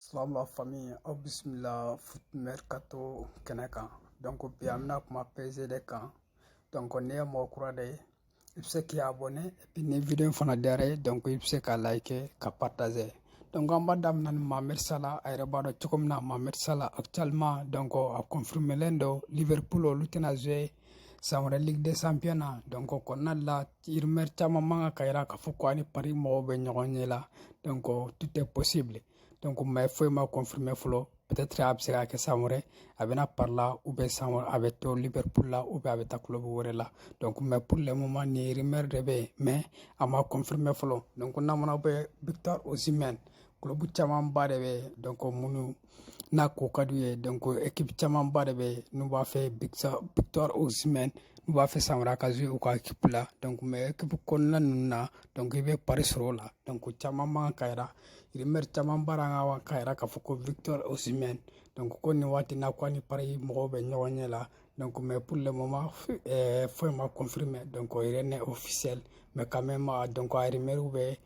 Salam la famille aw bisimila Foot Mercato kɛnɛ kan donc bi an bɛna kuma PSG de kan donc n'i ye mɔgɔ kura de ye i bɛ se k'i abonné et puis ni video in fana diyara i ye donc i bɛ se ka like ka partager donc an b'a daminɛ ni Mohamed Salah a yɛrɛ b'a dɔn cogo min na Mohamed Salah actuellement donc a confirmelen don Liverpool olu tɛna jouer san wɛrɛ ligue des champions na donc o kɔnɔna la rumeur caman bɛ k'a yira k'a fɔ ko a ni Paris mɔgɔw bɛ ɲɔgɔn ɲɛ la donc tout est possible donc mais foyi ma confirmer fɔlɔ peut-être a bɛ se ka kɛ san wɛrɛ a bɛ na Paris la ou bien san wɛrɛ a bɛ to Liverpool la ou bien a bɛ taa club wɛrɛ la donc mais pour le moment nin rumeur de bɛ yen mais a ma confirmer fɔlɔ donc n'a mana bɛ Victor Osimhen club camanba de bɛ yen donc minnu n'a ko ka d'u ye donc équipe camanba de bɛ n'u b'a fɛ Victor Osimhen n'u b'a fɛ san wɛrɛ a ka jouer u ka équipe la donc mais équipe kɔnɔna ninnu na donc i bɛ Paris sɔrɔ o la donc caman bɛ k'a yira rumeur caman bɔra a kan k'a yira k'a fɔ ko Victor Osimhen donc ko nin waati na ko a ni Paris mɔgɔw bɛ ɲɔgɔn ɲɛ la donc mais pour le moment euh, foyi ma confirmer donc rien n'est officiel mais quand même donc a rumeur bɛ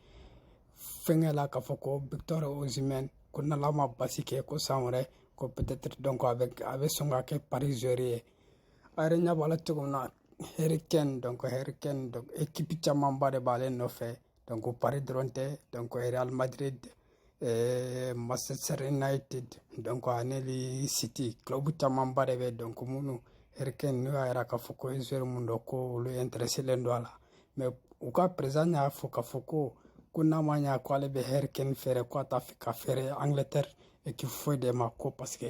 fɛnkɛ la k'a fɔ ko Victor Osimhen ko n'Ala ma basi kɛ ko san wɛrɛ ko peut-être donc a bɛ a bɛ sɔn ka kɛ Paris joueur ye a yɛrɛ ɲɛ b'a la cogo min na Harry Kane donc Harry Kane donc équipe camanba de b'ale nɔfɛ donc Paris dɔrɔn tɛ donc Real Madrid eh, Manchester United donc ani li City club camanba de bɛ donc minnu Harry Kane n'o y'a jira k'a fɔ ko ye joueur mun don ko olu intéressélen don a la mais u ka président y'a fɔ k'a fɔ ko ko n'a ma ɲa ko ale bɛ Harry Kane feere ko a t'a fɛ k'a feere Angleterre équipe foyi de ma ko parce que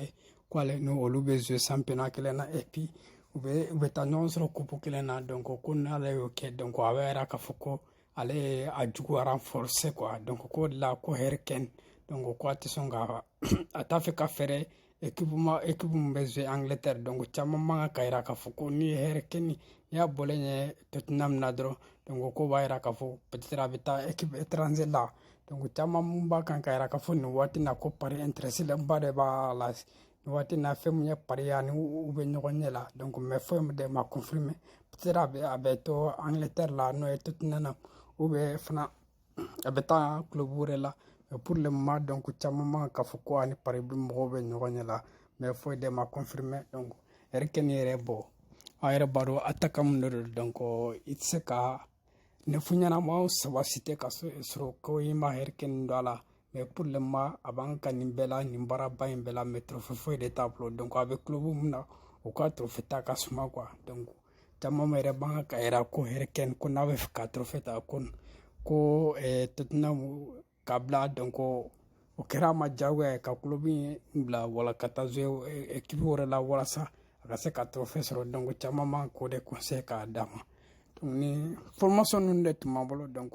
ko ale ni olu bɛ jouer championnat kelen na et puis u bɛ u bɛ taa ɲɔgɔn sɔrɔ coupe kelen na donc ko n'ale y'o kɛ donc a b'a yira k'a fɔ ko ale ye a jugu renforcer quoi donc o de la ko Harry Kane donc ko a tɛ sɔn ka a t'a fɛ k'a feere équipe ma équipe min bɛ jouer Angleterre donc caman b'a kan k'a yira k'a fɔ ko n'i ye Harry Kane n'i y'a bɔlen ye Tottenham na dɔrɔn donc ko b'a yira k'a fɔ peut-être a bɛ taa équipe étranger la donc caman mun b'a kan k'a yira k'a fɔ nin waati na ko Paris intéressélenba de b'a la nin waati na fɛn mun ye Paris ye ani u bɛ ɲɔgɔn ɲɛ la donc mais foyi même de ma confirmer peut-être a bɛ a bɛ to Angleterre la n'o ye Tottenham ou bien fana a bɛ taa club wɛrɛ la mais pour le moment donc caman b'a kan k'a fɔ ko a ni Paris bɛ mɔgɔw bɛ ɲɔgɔn ɲɛ la mais foyi de ma confirmer donc Harry Kane yɛrɛ bon a yɛrɛ b'a dɔn attaquant mun de don donc i tɛ se ka neuf ɲɛnamaw saba citer ka sɔrɔ ko i ma Harry Kane don a la mais pour le moment a b'an ka nin bɛɛ la nin baaraba in bɛɛ la mais trofe foyi de t'a bolo donc a bɛ kulobu min na o ka trofe ta ka suma quoi donc caman yɛrɛ b'a kan k'a yira ko Harry Kane ko n'a b'a fɛ ka trofe ta ko ko eh, tottenham ka bila donc o kɛra a ma jagoya ye ka kulobu in bila wala ka taa jouer ekipi eh, wɛrɛ la walasa a ka se ka trofe sɔrɔ donc caman b'an k'o de conseil k'a d'a ma donc information ninnu de tun b'an bolo donc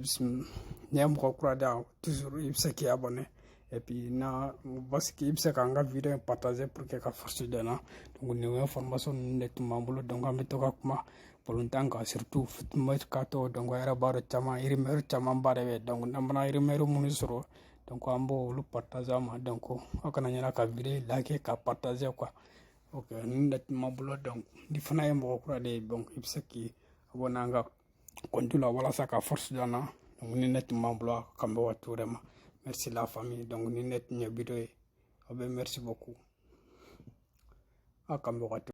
bisimila n'i ye mɔgɔ kura de ye toujours i bɛ se k'i abɔne epi na parce que i bɛ se k'an ka video in partager pour que ka force d'an na donc nin information ninnu de tun b'an bolo donc an bɛ to ka kuma balɔntan kan surtout mercato donc a yɛrɛ b'a dɔn caman rumeur caman ba de bɛ donc n'an mana rumeur minnu sɔrɔ donc an b'olu partager ma donc aw kana ɲina ka video like ka partager quoi ok ninnu de tun b'an bolo donc n'i fana ye mɔgɔ kura de ye donc i bɛ se k'i abonne an ka kɔntu la walasa ka force d'an na donc nin de tun b'an bolo a k'an bɛn waati wɛrɛ ma merci la famille donc nin de tun ye video ye aw bɛɛ merci beaucoup a k'an bɛn waati